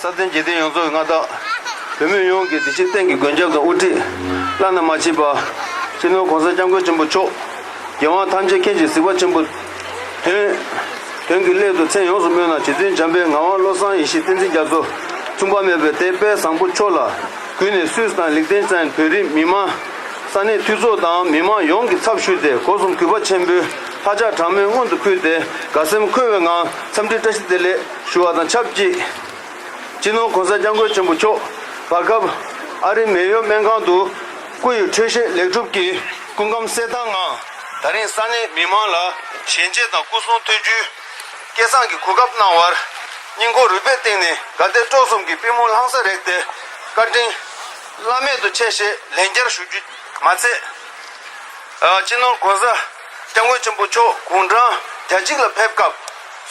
སྲ་བརྟན་རྒྱལ་བསྟན་ཡོངས་རྫོགས་ཀྱི་མངའ་བདག། བོད་མི་ཡོངས་ཀྱི་འདི་ཕྱིའི་གཏན་གྱི་མགོན་སྐྱབས་དང་དབུ་ཁྲིད། བླ་ན་མ་མཆིས་པ། སྤྱི་ནོར་གོང་ས་སྐྱབས་མགོན་ཆེན་པོ་མཆོག། རྒྱལ་དབང་ཐམས་ཅད་མཁྱེན་ཅིང་གཟིགས་པ་ཆེན་པོ། དོན། དོན་གྱི་སླད་དུ་མཚན་ཡོངས་སུ་སྨོས་ན་རྗེ་བཙུན་འཇམ་པའི་ངག་དབང་བློ་བཟང་ཡེ་ཤེས་བསྟན་འཛིན་རྒྱ་མཚོ། མཚུངས་པ་མེད་པའི་དད་དཔལ་བཟང་པོ་མཆོག་ལ། གུས་ནས་སུས་དང་ལེགས་བསྟེན་ཅན་བོད་རིགས་མི་དམངས། ས་གནས་འཐུས་ཚོགས་དང་མི་དམངས་ཡོངས་ཀྱི་ཚབ་ཞུས་ཏེ་སྒོ་གསུམ་གུས་པ་ཆེན་པོའི་ལྷ་ཕྱག་དྲང་མོས་སྔོན་དུ་ཕུལ་ཏེ་དགའ་སེམས་འཁོལ་བའི་ངང་འཚམས་འདྲི་བཀྲ་ཤིས་བདེ་ལེགས། ཞུ་བ་དང་ཆབས་ཅིག་སྤྱི་ནོར་གོང་ས་སྐྱབས་མགོན་ཆེན་པོ་མཆོག་བར་སྐབས་ཨ་རིའི་མེ་ཡོ་སྨན་ཁང་དུ་སྐུ་ཡི་འཕྲོད་བཞེས་ལེགས་གྲུབ་ཀྱི་སྐུ་ཁམས་གསལ་ཐང་ངང་ད་རིང་ས་གནས་མི་མང་ལ་ཞལ་འབྱེད་དང་སྐུ་གསུང་ཐུགས་རྒྱུད་སྐལ་བཟང་གི་གོ་སྐབས་གནང་བར་སྙིང་ཁོང་རུས་པའི་སྟེང་ནས་དགའ་དད་སྤྲོ་གསུམ་གྱི་པི་མོ་ལྷང་སར་རེག་སྟེ་བཀའ་དྲིན་བླ་མེད་དུ་ཆེ་ཞེས་ལན་བརྒྱར་ཞུ་རྒྱུ་མ་ཚད། སྤྱི་ནོར་གོང་ས་སྐྱབས་མགོན་ཆེན་པོ་མཆོག་དགུང་གྲངས་གྱ་གཅིག་ལ་ཕེབས་སྐབས།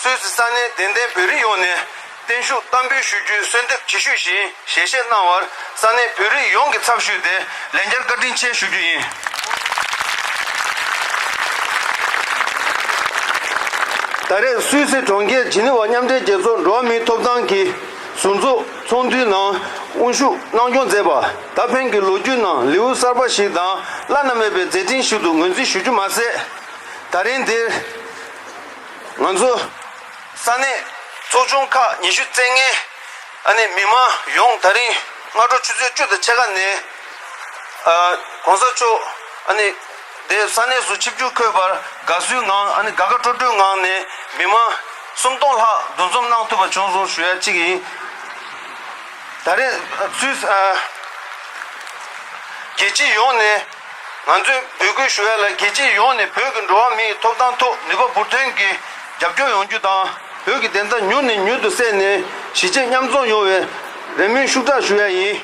གསོལ་ཚིགས་ས་གནས་དད་ལྡན་བོད་རིགས་ཡོངས་ནས་བརྟན་བཞུགས་གཏམ་འབུལ་ཞུ་རྒྱུའི་གསོལ་འདེབས་ཇི་ཞུས་བཞིན་ཞལ་བཞེས་གནང་བར་ས་གནས་བོད་རིགས་ཡོངས་ཀྱི་ཚབ་ཞུས་ཏེ་ལན་བརྒྱར་བཀའ་དྲིན་ཆེ་ཞུ་རྒྱུ་ཡིན། ད་རེས་སུད་སི་གྲོང་ཁྱེར་ཇི་ནི་ཝ་མཉམ་འབྲེལ་རྒྱལ་ཚོགས་འགྲོ་བ་མིའི་ཐོབ་ཐང་གི་ཟུར་འཛུགས་ཚོགས་འདུའི་ནང་དབུ་བཞུགས་གནང་སྐྱོང་མཛད་པ་ད་ཕན་གྱི་ལོ་རྒྱུས་ནང་ལེའུ་གསར་པ་ཞིག་དང་བླ་ན་མེད་པའི་མཛད་འཕྲིན་ཞིག་ཏུ་ངོས་འཛིན་ཞུ་རྒྱུ་མ་ཟད། ད་རིང་འདིར། ང་ཚོ་ས་གནས་ཚོགས་ཆུང་ཁག་ཉི་ཤུ་རྩེ་ལྔའི་ཨ་ནེ་མི་མང་ཡོངས་ད་རིང་སྔ་དྲོ་ཆུ་ཚོད་བཅུ་དང་ཕྱེད་ཀ་ནས ྋགོང་ས་མཆོག་འདེབས་ས་གནས་སུ་ཆིབས་བསྒྱུར་འཁོད་པར་དགའ་བསུའི་ངང་དགའ་དགའ་སྤྲོ་སྤྲོའི་ངང་ནས་མི་མང་སུམ་སྟོང་ལྷག་འདུ་འཛོམས་གནང་ཐུབ་པ་བྱུང་སོང་ཞུ་ཡ་གཅིག་ཡིན། ད་རེས་ཚུལ། རྒྱལ་སྤྱི་ཡོངས་ནས། ང་ཚོས་འབོད་སྐུལ་ཞུ་ཡ་ལ་རྒྱལ་སྤྱི་ཡོངས་ནས་བོད་ཀྱི་འགྲོ་བ་མིའི་ཐོབ་ཐང་ཐོག་ནུས་པ་འབུར་ཐོན་གྱིས་རྒྱབ་སྐྱོར་ཡོང་རྒྱུ་དང། བོད་ཀྱི་བདེན་མཐའ་མྱུར་ནས་མྱུར་དུ་གསལ་ནས་གཞིས་བྱེས་མཉམ་འཛོམས་ཡོང་བའི་རེ་སྨོན་ཤུགས་དྲག་ཞུ་ཡ་ཡིན།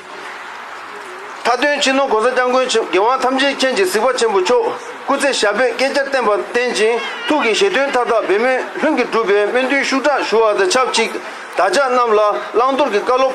མཐའ་དོན་ཕྱི་ནང་གོང་ས་སྐྱབས་མགོན་ཆེན་རྒྱལ་དབང་ཐམས་ཅད་མཁྱེན་གྱི་གཟིགས་པ་ཆེན་པོ་མཆོག་སྐུ་ཚེ་ཞབས་པད་བསྐལ་བརྒྱར་བརྟན་པར་བརྟེན་ཅིང་ཐུགས་ཀྱི་བཞེད་དོན་མཐའ་དག་འབད་མེད་ལྷུན་གྱིས་འགྲུབ་པའི་སྨོན་འདུན་ཤུགས་དྲག་ཞུ་བ་དང་ཆབས་ཅིག་དག་ཅག་རྣམས་ལ་བླང་དོར་གྱི་བཀའ་སློབ།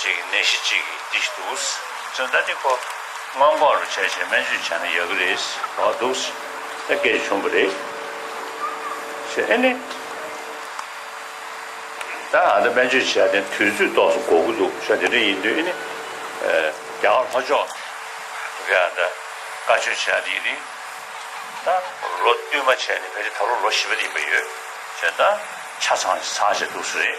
ཅིག་ནད་གཞི་གཅིག་གིས་འདི་ཞིག་འདུག། ཙུན་ད་ཏི་ཁོ། སྔོན་འགོག་རུ་བྱ་ཞེས་སྨན་བཅོས་བྱས་ན་ཡག་གི་རེད། བར་འདུག། ཨེ་སྐད་བྱུང་གི་རེད། ཞེས་ཨེ་ནི། ད་ང་ཚོ་སྨན་བཅོས་བྱས་ཏེ་དུས་ཚོད་ཏོག་སུ་འགོག་གི་འདུག་ཞོ་དེ་འདྲ་ཡིན་དུས་ཨེ་ནི། རྒྱ་གར་ལྷོ་ཕྱོགས། གི་ཨ་འདྲ། བཀའ་ཆོས་བྱས་ཏེ་ཡིན་ནི། ད། ལོ་བསྟུད་མ་བྱས་ནི་བས་ཏེ་ད་ལོ་ལོ་བཞི་པ་དེ་ཡིན་པ་ཡོད། ཞེས་ད། ཆ་ཚང་ཚང་བྱས་འདུག་སུ་རེད།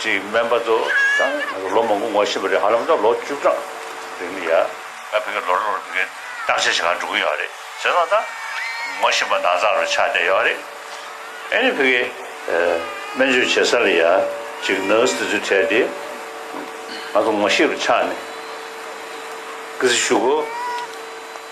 ཅིག་སྨན་པ་ཚོ་དང་ལོ་མང་པོ་ངོ་ཤེས་པ་རེད་ཧ་ལམ་ད་ལོ་བཅུ་གྲངས་རེད་མི་ཡ། ད་ཕེ་གི་ལོ་རེར་ཕེ་གི་བརྟག་དཔྱད་བྱེད་ཁང་འགྲོ་གི་ཡོད་རེད་ཟེར་ན་ད་ངོ་ཤེས་པ་འདང་ཚག་རེ་ཆགས་བསྡད་ཡོད་རེད། ཨ་ནི་ཕེ་གི་སྨན་བཅོས་བྱེད་ས་ལ་ཡ་ཅིག Nurse དེ་ཚོས་ཁྲལ་ཏེ་ང་ཚོ་ངོ་ཤེས་པ་ཆགས་ནས་ཀི་སི་ཞུ་གོ།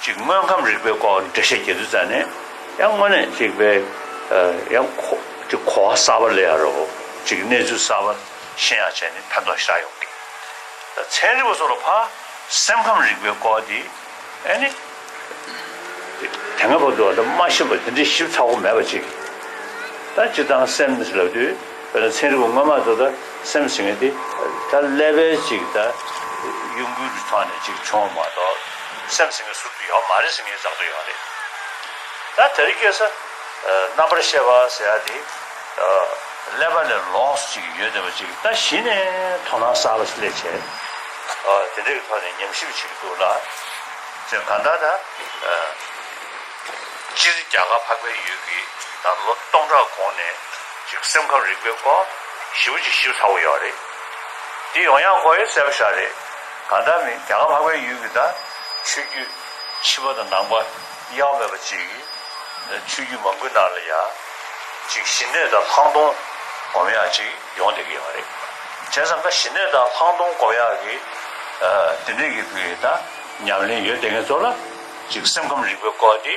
གཅིག་དངོས་ཁམས་རིག་པའི་སྐོར་འགྲེལ་བཤད་བྱེད་དུས་ཙམ་ནས་ཡང་དངོས་གནས་གཅིག་པའི་ཡང་གོ་བ་གསར་པ་ལས་ཡ་རོ་གཅིག་གི་གནས་ཚུལ་གསར་པ་ཤེས་ཡ་བྱས་ནས་ཕན་ཐོགས་ཤ་ཡོང་གི། ཚན་རིག་པ་སོགས་ལ་ཕ་སེམས་ཁམས་རིག་པའི་སྐོར་འདི་ཨེ་ནི། དེ་སྔ་བར་དུ་ང་ཚོ་མ་ཤེས་པ་དེ་འདྲའི་ཞིབ་ཚགས་པོ་མེད་པ་ཅིག་ད་ཅི་ལྟར་སེམས་ལབ་དུས། དཔེར་ན་ཚན་རིག་པ་སྔོན་མ་ཚོ་ད་སེམས་ཟིན་ངེས་ཏེ། ད་ཀླད་པའི་ཅིག་ད་གཡུང་དྲུང་གི་ཐོག་ནས་ཅིག་བྱུང་བ་མ་གཏོགས་སེམས་ཟིན་ངེས་ཟུར་དུ་ཡོད་མ་རེད་ཟིན་ངེས་རྫག་ཏུ་ཡོད་རེད། ད་དེ་རིགས་སྐད་ས་རྣམ་པར་བཤད་པ་ཟེར་ཡ་དེ་ཀླད་པ་ལས་ལོངས་ཅིག་ཡོད་བསྡད་པ་ཅིག་ད་གཞི་ནས་དོ་སྣང་གསར་པ་ཞིག་སླེབས་ཆེད་དེ་འདྲའི་ཐོག་ནས་ཉམས་ཞིབ་བྱེད་ཀྱི་འདུག་ལ། ཅེས་གང་ལྟར་ད་སྤྱིར་རྒྱ་གར་འཕགས་པའི་ཡུལ་གྱི་ད་ལོ་སྟོང་ཕྲག་གོང་ནས། ཅིག་སེམས་ཁམས་རིག་པའི་སྐོར་བཞི་བོ་ཅིག་ཞིབ་ཚགས་པོ་ཡོད་རེད། འདི་ཡོང་ཡང་གོ་ཡོད་གསལ་པོ་ཤག་རེད། གང་ལྟར་མིན་རྒྱ་གར་ལྷག་པའི་ཡུལ་གྱི་དང་ཆོས་རྒྱུད་ཕྱི་པ་དང་ནང་པ་གཡག་མེད་པ་ཅིག་ཆོས་རྒྱུད་མང་པོའི་ནང་ལ་ཡ་ཅིག་ཞི་གནས་དང་ལྷག་མཐོང་སྒོམ་ཡག་ཅིག་ཡོང་བསྡད་ཀྱི་ཡོད་རེད། བྱས་ཙང་ཀ་ཞི་གནས་དང་ལྷག་མཐོང་སྒོམ་ཡག་གི་དེ་འདྲས་ཀྱི་དང་ཉམས་ལེན་ཡོད་བསྡད་མཁན་ཚོ་ལ་ཅིག་སེམས་ཁམས་རིག་པའི་སྐོར་འདི།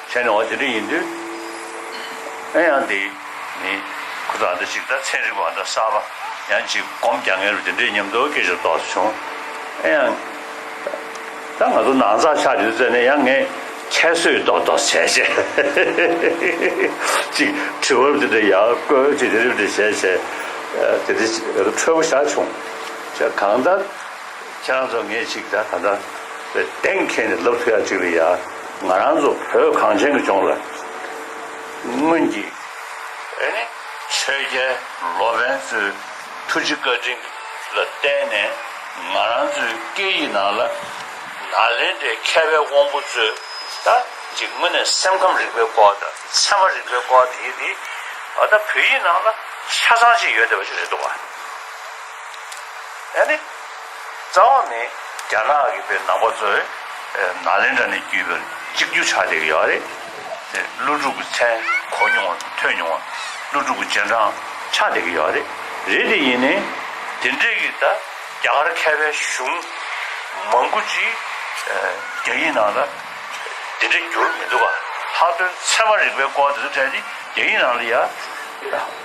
ཁྱེད་ནི་འོ་དེ་འདྲ་ཡིན་དུས། ཨེ་ཡང་དེ་ནི། ཁུ་ཚང་འདི་གཅིག་ད་ཚན་རིག་པ་འདྲ་གསར་པ་ཡང་གཅིག་སྒོམ་རྒྱག་མཁན་རུ་དེ་འདྲའི་ཉམས་རྟོགས་སྐད་ཅིག་ཏོག་བྱུང། ཨེ་ཡང། ད་ང་ཚོ་ནང་ཚགས་ཆགས་ཡོད་ཚད་ནས་ཡང་ངས་ཁྱད་གསོད་ཏོག་ཏོག་བྱས་བྱས། གཅིག་དྲི་བ་རུ་དེ་འདྲ་ཡང་བཀོད་གཅིག་དེ་འདྲ་དེ་འདྲ་བྱས་བྱས། དེ་འདྲའི་འཁྲོལ་བོ་ཞག་བྱུང། གང་ལྟར། ཁྱེད་རང་ཚོ་ངས་ཅིག་ད་ག་འདྲ་བའི་གཏན་འཁེལ་ནས་ལབ་ཐུ་ཡ་ཅིག་རེད་ཡ། ང་རང་ཚོ་བོད་གངས་ཅན་གྱི་ལྗོངས་ལ་སྔོན་གྱི་ཆོས་རྒྱལ་ལོ་པན་ཚོའི་ཐུགས་རྗེ་བཀའ་དྲིན་ལ་བརྟེན་ནས་ང་རང་ཚོའི་སྐད་ཡིག་ནང་ལ་ནཱ་ལེནྡྲའི་མཁས་པའི་དབང་པོ་ཚོས་ད་ཅིག་དངོས་གནས་སེམས་ཁམས་རིག་པའི་སྐོར་དང་ཚད་མ་རིག་པའི་སྐོར་དེ་དེ་ད་བོད་ཡིག་ནང་ལ་ཆ་ཚང་ཅིག་ཡོད་བསྡད་པ་ཅིག་རེད་འདུག་བ། ཡང་ནི། རྩ་བ་ནི་རྒྱ་ནག་གི་བའི་ནང་པ་ཚོས་ནཱ་ལེནྡྲ་ནས་བརྒྱུད་པའི་གཅིག་གྱུར་ཕྱག་ལེན་ཡོད་རེད། དེ་ཀླུ་སྒྲུབ་ཀྱི་མཚན་གོ་མྱོང་བ་ཐོས་མྱོང་བ། ཀླུ་སྒྲུབ་ཀྱི་རྗེས་འབྲང་ཕྱག་ལེན་ཡོད་རེད། རེད་དེ་ཡིན་ནའི། དེ་འདྲས་ཀྱི་ད་རྒྱ་གར་མཁས་པའི་གཞུང་མང་པོ་ཅིག་རྒྱ་ཡིག་ནང་ལ་དེ་འདྲས་བསྒྱུར་མི་འདུག་ག། ལྷག་དོན་ཚད་མ་རིག་པའི་སྐོར་དེ་ཚོ་བཀྲལ་ཏེ་རྒྱ་ཡིག་ནང་ལ་ཡ།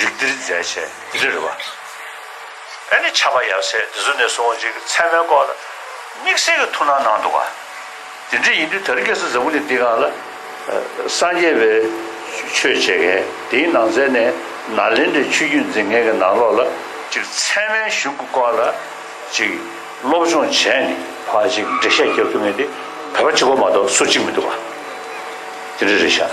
རིགས་འདིར་མཛད་བྱས་རིར་བ། ཨེ་ནི་ཆགས་པ་ཡབ་སྲས་དེ་ཚོ་ནས་བཟུང་ཅིག་མཚན་མོའི་སྐོར་ལ། དམིགས་བསལ་གྱི་ཐུགས་སྣང་གནང་འདུག་བ། དེ་འདྲ་ཡིན་དུས་དར་རྒྱས་སུ་འཛམ་བུ་ནི་འདི་གང་ལ། སངས་རྒྱས་པའི་ཆོས་འཆད་མཁན་དེའི་ནང་ཚན་ནས་ནཱ་ལེནྡྲའི་ཆོས་བརྒྱུད་འཛིན་མཁན་གྱི་ནང་ལོགས་ལ། ཅིག་མཚན་མའི་གཞུང་གི་སྐོར་ལ། ཅིག་སློབ་སྦྱོང་བྱས་ནས་བ། ཅིག་འགྲེལ་བཤད་རྒྱག་རྒྱུ་མེད་དེ། བོད་པ་གཅིག་གོ་མ་གཏོགས་སུ་གཅིག་མི་འདུག་བ། དེ་འདྲ་རེད་ཤག།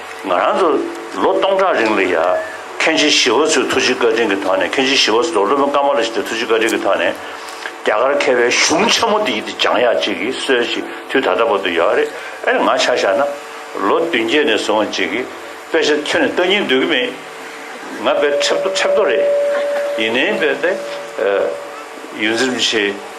ང་རང་ཚོ་ལོ་སྟོང་ཕྲག་རིང་ལ་ཡར་མཁན་ཆེན་ཞི་བ་འཚོའི་ཐུགས་རྗེ་བཀའ་དྲིན་གྱི་ཐོག་ནས་མཁན་ཆེན་ཞི་བ་འཚོ་དང་སློབ་དཔོན་ཀརྨ་བླ་ཤིས་ཚོའི་ཐུགས་རྗེ་བཀའ་དྲིན་གྱི་ཐོག་ནས་རྒྱ་གར་མཁས་པའི་གཞུང་ཆེན་མོ་འདི་ཡི་དེ་སྦྱང་ཡག་ཅིག་གི་སྲོལ་ཞིག་དུས་ད་ལྟ་བར་དུ་ཡོད་རེད་ཨེ་ང་ཆ་བཞག་ན་ལོ་བདུན་བརྒྱད་ནས་བཟུང་བ་ཅིག་གི་དཔེ་ཆ་ཁྱོན་ནས་བལྟ་སྙིང་འདོད་ཀྱི་མེད་ང་དཔེ་ཁྲེབ་ཐོ་ཁྲེབ་ཐོ་རེད་ཡིན་ནའི་དཔེ་དེ་ཡུལ་འཛིན་བྱེད།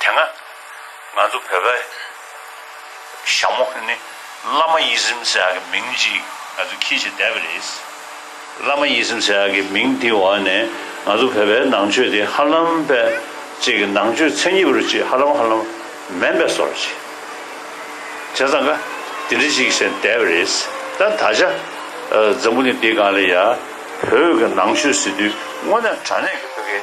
དེ་སྔ་ང་ཚོ་བོད་པའི་ཞྭ་མོ་ནི་བླ་མ་ཡིད་སེམས་སེ་ཡ་གི་མིང་ཅིག་ང་ཚོ་ཁྱེད་ཀྱིས་བསྡད་པ་རེད། བླ་མ་ཡིད་སེམས་སེ་ཡ་གི་མིང་དེའི་འོག་ནས་ང་ཚོ་བོད་པའི་ནང་ཆོས་དེ་ཧ་ལམ་པའི་ཅིག་གི་ནང་ཆོས་ཚན་གྱི་བུ་རུ་ཅིག་ཧ་ལམ་ཧ་ལམ་མེན་པའི་སོ་རུ་ཅིག་བྱས་ཙང་ཀ་དེ་འདྲི་ཅིག་བྱས་བསྡད་པ་རེད། ད་ད་ཆ་འཛམ་བུ་གླིང་འདི་གང་ལ་ཡ་བོད་ཀྱི་ནང་ཆོས་ཟེར་དུས་དངོས་གནས་དྲ་གནས་ཀྱི་བོད་སྐད།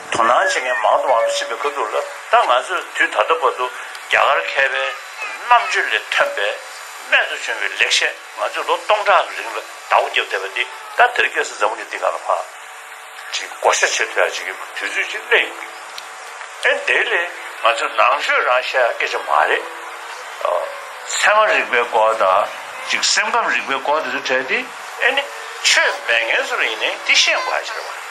དོ་སྣང་བྱེད་མཁན་མང་དུ་མང་དུ་ཕྱིན་པའི་སྐབས་འདུག་ལ། ད་ང་ཚོས་དུས་ད་ལྟ་བར་དུ་རྒྱ་གར་མཁས་པའི་རྣམ་དཔྱོད་ལས་ཐོན་པའི་རྨད་དུ་བྱུང་བའི་ལེགས་བཤད་ང་ཚོས་ལོ་སྟོང་ཕྲག་གི་རིང་ལ་དྭགས་པོ་བརྒྱབ་བསྡད་པ་འདི་ད་དེར་སྐྱེས་སུ་འཛམ་བུ་གཉིས་འདི་ག་ལ་བབས། ཅེས་བསྐོར་བཤད་བྱེད་ཐུ་ཡག་བྱེད་ཀྱི་དུས་ཚོད་ཅིག་སླེབས་ཡོང་གི། ཨེ་འདི་ལས་ང་ཚོས་ནང་ཆོས་རང་བཤད་སྐད་ཆ་མ་རེད། ཚད་མ་རིག་པའི་སྐོར་དང་གཅིག་སེམས་ཁམས་རིག་པའི་སྐོར་དེ་ཚོ་བྲལ་ཏེ་ཨེ་ནི་ཆོས་མེད་མཁན་ཚོར་ཡིན་ནའི་འདི་བཤད་དགོས་ཧ་ཅར་བ།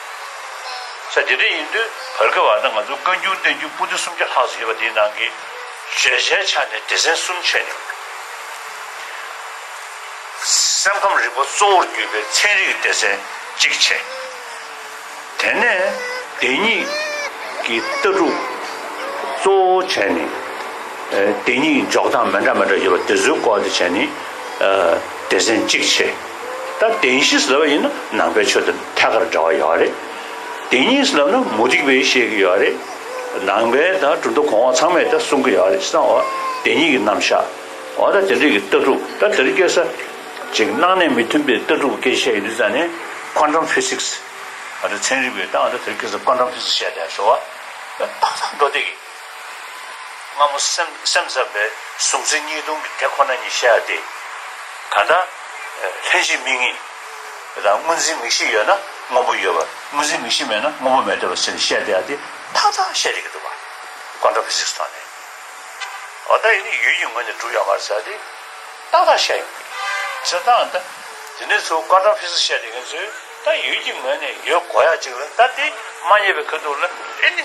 ས་དེ་འདྲ་ཡིན་དུས་བར་བརྒལ་བ་ན་ང་ཚོ་བཀའ་འགྱུར་བསྟན་འགྱུར་པོ་ཏི་སུམ་བརྒྱ་ལྷག་ཟེར་བ་དེའི་ནང་གི་བརྗོད་བྱའི་ཆ་ནས་སྡེ་ཚན་གསུམ་ཆད་མྱོང། སེམས་ཁམས་རིག་པ་གཙོ་བོར་གྱུར་པའི་ཚན་རིག་སྡེ་ཚན་གཅིག་ཆད། དེ་ནས་སྡེ་གཉིས་ཀྱི་ལྟ་གྲུབ་གཙོ་བོ་ཆད་ནས། སྡེ་གཉིས་ཀྱི་འཇོག་སྟངས་མི་འདྲ་མི་འདྲ་ཡོད་པ་དེ་ཚོའི་སྐོར་དེ་ཆད་ནས། སྡེ་ཚན་གཅིག་ཕྱེ། ད་བདེན་བཞི་ཟླ་བ་ཡིན་ན་ནང་པའི་ཆོས་དང་ཐད་ཀར་འདྲ་བ་ཡོད་རེད། བདེན་གཉིས་ཟླ་བ་ན་མུ་སྟེགས་པས་བཤད་ཀྱི་ཡོད་རེད། ནང་པའི་ད་གྲུབ་མཐའ་གོང་འོག་ཚང་མས་ད་གསུང་གི་ཡོད་རེད་བསམ། འོ་བདེན་གཉིས་ཀྱི་རྣམ་བཞག་འོ་ད་དེ་འདྲ་ཡི་ལྟ་གྲུབ་ད་དེ་རུ་སྐྱེ་ས། ཅིག་སྣང་གནས་མི་མཐུན་པའི་ལྟ་གྲུབ་སྐྱེ་ཤས་ཡིན་དུས་ཙང་ནས Quantum Physics འོ་ད་ཚན་རིག་པས་ད་འོ་ད་དེ་རུ་སྐྱེ་ས Quantum Physics བཤད་དེ་ཟེར་བ། ད་ད་འགྲོ་བསྡད་ཀྱི། སྔ་མོ་སེམས་ཙམ་པས་གཟུང་འཛིན་གཉིས་སྟོང་གི་དེ་ཁོ་ན་ཉིད་བཤད་དེ། ད་ལྟ། ལྷན་ཅིག་མིག་གཉིས་དང་དངོས་འཛིན་མིག་བཞི་ཡོད་ན་དངོས་པོ་ཡོད་པ། དངོས་འཛིན་མིག་བཞི་མེད་ན་དངོས་པོ་མེད་འདོད་པ་ཟེར་ནས་བཤད་བསྡད་དེ་ཐག་ཐག་བཤད་བསྡད་ཀྱི་འདུག་པ། Quantophysics ཐོག་ནས། འོ་ད་ཡིན་ནི་ཡུལ་གྱི་ངོས་ནས་གྲུབ་ཡོང་བར་ཟེར་དེ་ཏག་ཏག་བཤད་ཡོང་གི། ཟེར་ད་ད་དེ་ནས་ཚུར Quantophysics བཤད་བསྡད་མཁན་ཚོས་ད་ཡུལ་གྱི་ངོས་ནས་ཡོད་གོ་ཡ་གཅིག་ལ་ད་དེ་མ་རྙེད་པའི་ཁེ་འདུག་ལ་ཨེ་ནི།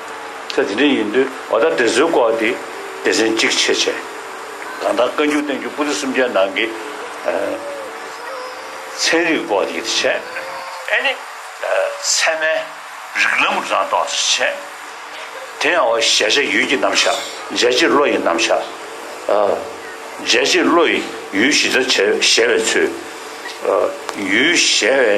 ཚེ་འདི་འདྲ་ཡིན་དུས་ཨོ་ད་དེ་ཚོའི་སྐོར་དེ་སྡེ་ཚན་གཅིག་ཕྱེས་བྱས། གང་ལྟར་བཀའ་འགྱུར་བསྟན་འགྱུར་པུ་རི་གསུམ་ཅན་ནང་གི་ཚན་རིག་སྐོར་དེ་ཡིད་ཆེས་ཨེ་ནི། ཚད་མའི་རིགས་ལམ་རང་རྟོགས་དེ་ཚོ་བྱས། དེ་ཡང་ཨོ་ཞལ་ཆ་ཡུལ་གྱི་རྣམ་བཞག་མཇལ་བྱེད་བློ་ཡི་རྣམ་བཞག། མཇལ་བྱེད་བློ་ཡི་ཡུལ་ཞི་བདེར་བྱེད་བཞེད་པའི་ཚུལ། ཡུལ་བཞེད་བའི།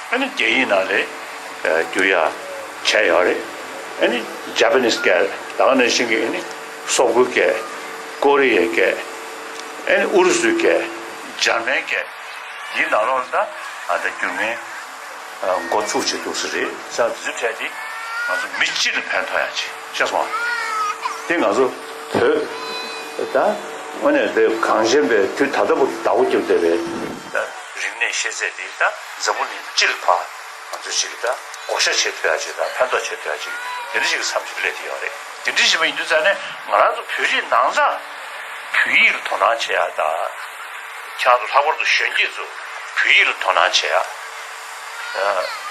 ཨ་ནི་རྒྱ་ཡིག་ནང་ལས་འགྱུར་ཡ་བྱས་ཡོད་རེད་ཨ་ནི Japanese སྐད་ད་ག་ནས་ཕྱིན་གི་ཨ་ནི་སོག་པོའི་སྐད་ཀོ་རི་ཡའི་སྐད་ཨ་ནི་ཨུ་རུ་སུའི་སྐད་འཇར་མན་སྐད་ཡིག་ནང་ལོག་ན་ད་ད་འགྱུར་མིན་འགོ་ཚུགས་བྱེད་འདུག་ས་རེད་ས་འཛིན་འཕྲལ་དེ་ང་ཚོ་མི་སྤྱི་ལ་ཕན་ཐོག་ཡ་ཆེ་ཤེས་སོང་ང་དེ་ང་ཚོ་བོད་ད་དངོས་གནས་བོད་གངས་ཅན་པའི་དུས་ད་ལྟ་བུ་ད་ཨོ་རྒྱུབ་བསྡད་པའི་ད་རིག་གནས་ཤེས་ཚད་དེ་ད། འཛམ་བུ་གླིང་སྤྱི་ལ་ཕར་ང་ཚོས་ཅིག་གིས་ད་བགོ་བཤའ་བྱེད་ཐུབ་ཡ་ཅིག་ད་ཕན་ཐོག་བྱེད་ཐུབ་ཡ་ཅིག་དེ་འདྲ་ཞིག་གི་མཚམས་ཞིག་སླེབས་ཀྱི་ཡོད་རེད་དེ་འདྲ་ཞིག་མ་ཡིན་དུས་ཙང་ནས་ང་རང་ཚོ་བོད་རིགས་ནང་ཙང་བོད་ཡིག་ལ་དོ་སྣང་བྱེད་ཡ་ད་ཆ་ང་ཚོ་ལྷག་པར་དུ་གཞོན་སྐྱེས་ཚོ་བོད་ཡིག་ལ་དོ་སྣང་བྱེད་ཡ་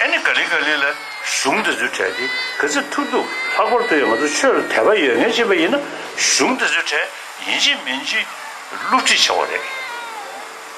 ཨེ་ནི་ག་ལི་ག་ལི་ལ། གཞུང་དེ་ཚོའི་གྲས་དེ་ག་ཚད་ཐུབ་ཐུབ་ལྷག་པར་དུ་ཡང་ང་ཚོ་ཆོས་ལ་དད་པ་ཡོད་ངེས་ཅིག་པ་ཡིན་ན་གཞུང་དེ་ཚོའི་གྲས་ཡིན་ཅིག་མིན་ཅིག་བསླུ་བྲིད་བྱ་དགོས་རེད།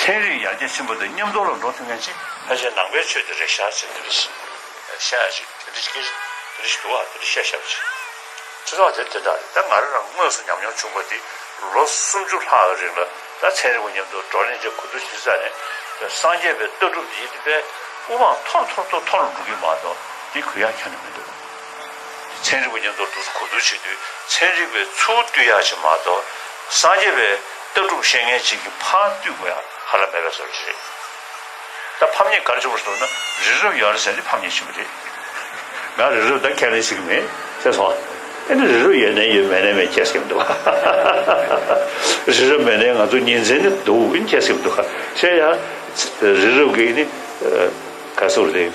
ཚན་རིག་ཡར་རྒྱས་ཆེན་པོ་དང་མཉམ་འགྲོགས་ལ་འགྲོ་ཐུབ་མཁན་ཅི། ཕལ་ཆེར་ནང་པའི་ཆོས་དེ་རེད་ཤག་ཅེས་དེ་རེ་ཤི། ཤ་ཡ་ཅིག་དེ་རེ་ཤི་ཀིར། དེ་རེ་ཤི་དུ་བ་དེ་རེ་ཤ་ཤབ་ཅིག། ཁྲི་ཚོགས་དེ་དེ་འདྲ་རེད་ད་ང་རང་རང་དངོས་སུ་ཉམས་མྱོང་བྱུང་པ་དེ་ལོ་སུམ་ཅུ་ལྷག་གི་རིང་ལ་ད་ཚན་རིག་པ་མཉམ་དུ་འགྲོགས་ལེན་བྱེད་གོ་ཐུབ་ཤིང་ས་ནས་སངས་རྒྱས་པའི་ལྟ་གྲུབ་དེ་ཡིད་དཔའི་དབུ་འཕང་ཐོར་ཐོར་ཐོར་ཐོར་ལ་འགྲོ་གི་མ་གཏོགས་དེ་གུ་ཡངས་ཁྱོན་ནས་མི་འདུག། ཚན་རིག་པ་ཉིན་ཐོར་ཐུགས་སུ་གོ་བསྡུར་བྱེད་དུས་ཚན་རིག་པའི་ཚུར་བཏུས་ཡག་ཅིག་མ་གཏོགས་སངས་རྒྱས་པའི་ལྟ་གྲུབ་བཤད་མཁན་ཅིག་གི་ཕར་བཏུས་དགོས་ཡག་ཧ་ལམ་མེད་པའི་བཟོ་རེད། ད་ཕམ་ཉེས་གར་བྱུང་བ་སོགས་ན་རི་རབ་ཡར་ཟེར་ནི་ཕམ་ཉེས་ཆེན་པོ་རེད། ང་རི་རབ་དང་ཁས་ལེན་བྱེད་ཀྱི་མེད་ཅེས་སོང། ཨེ་ནི་རི་རབ་ཡོད་ནའི་ཡོད་མེད་ནའི་མེད་ཅེས་སྐད་མི་འདུག་ག། རི་རབ་མེད་ནའི་ང་ཚོ་ཉིན་མཚན་ནི་འདུག་ཨིན་ཅེས་སྐད་མི་འདུག་ག། ཤེས་ཡ། རི་རབ་ཀྱི་ནི་ག་ཚོད་རེད།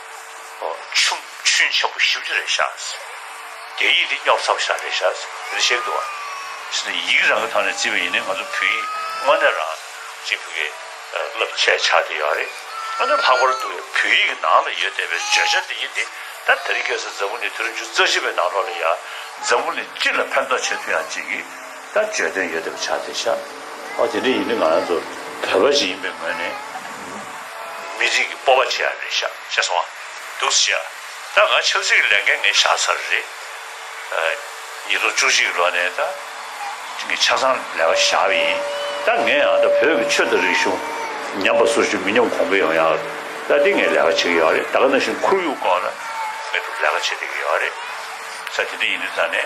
ཆུམ་ཆུན་ཆེན་པོ་ཞིབ་ཅིག་རེ་བཞག། རྒྱ་ཡིག་འདི་རྙོག་ཚ་བོ་ཞག་རེ་བཞག་ཟེར་རེ་བཤད་འདུག་བ། ཡིག་རང་གི་ཐོག་ནས་བརྩིས་པ་ཡིན་ནའི་ང་ཚོ་བོད་ཡིག་དངོས་གནས་རང་གཅིག་བོད་སྐད་བསླབ་བྱའི་ཆ་དེ་ཡོད་རེད། ཨ་ནུ་ལྷག་པར་དུ་བོད་ཡིག་གི་ནང་ལ་ཡོད་བསྡད་པའི་བརྗོད་བྱ་འདི་ཡིན་ཏེ། ད་ལྟ་རི་སྐལ་སར་འཛམ་བུ་ནི་དུས་རབས་བཅུ་རྩ་བཞི་པའི་ནང་ལོགས་ལ་ཡ། འཛམ་བུ་ནི་སྤྱི་ལ་ཕན་ཐོགས་ཆེ་མཐུ་ཡང་ཅིག། ལྟར་བརྗོད་དོན་ཡོད་དེ་བྱ་སྟེ་བྱ། ཨོ་དེ་འདྲ་ཡིན་དུས་ང་རང་ཚོ་བོད་པ་ཞིག་ཡིན་པའི་ངོས་ནས་མི་རིགས་ཀྱི་སྤོབས་པ་བྱེད་ཡ་རེད་ཤག་བྱས་སོང་བ་འདུག་བྱས་ཡ་ད་གང་ཆབ་སྲིད་ཀྱི་ལས་འགན་ངས་བཞག་ཚར་རེད། ཉིས་སྟོང་བཅུ་གཅིག་ལོ་ནས་ད་ངས་ཆ་ཚང་ལས་ཀ་བཞག་པ་ཡིན་ད་ངས་ཡང་ད་བོད་ཀྱི་ཆོས་དང་རིག་གཞུང་ཉམས་པ་སུ་ཞིག་མི་ཉམས་གོང་འཕེལ་ཡོང་ཡ་ད་དེ་ངས་ལས་ཀ་བྱེད་ཀྱི་ཡོད་རེད་ད་ག་ནང་བཞིན་ཁོར་ཡུག་སྐོར་ལ་ངས་ལས་ཀ་བྱེད་བསྡད་ཀྱི་ཡོད་རེད་ས་དེ་འདྲ་ཡིན་དུས་ད་ནས།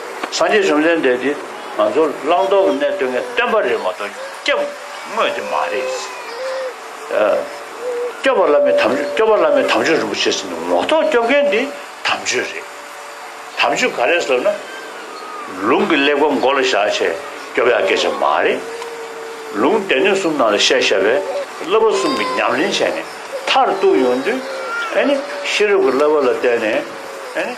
སངས་རྒྱས་བཅོམ་ལྡན་འདས་འདིས་ང་ཚོར་བླང་དོར་གྱི་གནས་སྟོན་མཁན་བསྟན་པ་རེད་མ་གཏོགས་སྐྱབས་དངོས་དེ་མ་རེད། སྐྱོབ་པ་བླ་མའི་དམ་ཆོས་སྐྱོབ་པ་བླ་མའི་དམ་ཆོས་རིན་པོ་ཆེ་ཟེར་ནས་ངོ་ཐོག་སྐྱོབ་མཁན་དེ་དམ་ཆོས་རེད། དམ་ཆོས་ག་རེ་ཟེར་ན། ལུང་གི་གླེགས་བམ་མགོ་ལ་བཞག་ཆེད་སྐྱོབ་ཡ་སྐད་ཆ་མ་རེད། ལུང་སྡེ་སྣོད་གསུམ་ནང་ལ་བཤད་ཤ་བའི་བསླབ་པ་གསུམ་གྱི་ཉམས་ལེན་བྱས་ནས་མཐར་གཏུགས་ཡོང་དུས། ཧན་ནི་ཤེས་རབ་ཀྱི་བསླབ་པ་ལ་བརྟེན་ནས།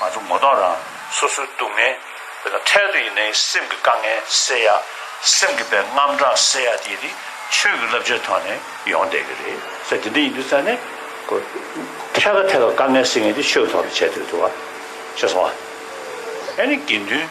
ང་ཚོ་ངོ་གདོང་རང་སོ་སོའི་སྡུག་བསྔལ། དེ་དང་འཕྲལ་དུ་ཡིན་ནའི་སེམས་ཀྱི་དཀའ་ངལ་སེལ་ཡ། སེམས་ཀྱི་བའི་རྔམ་སྐྲག་སེལ་ཡ་དེ་ནི་ཆོས་ཀྱི་བསླབ་བྱའི་ཐོག་ནས་ཡོང་བསྡད་ཀྱི་རེད། ཚེ་འདི་འདྲ་ཡིན་དུས་ཙང་ནས། ཐད་ཀ་ཐད་ཀར་དཀའ་ངལ་སེལ་མཁན་དེ་ཆོས་ཀྱི་ཐོག་ནས་བྱས་ཐུབ་ཐུབ་བ། ཤེས་སོང་བ། ཨེ་ནི་དགེ་འདུན།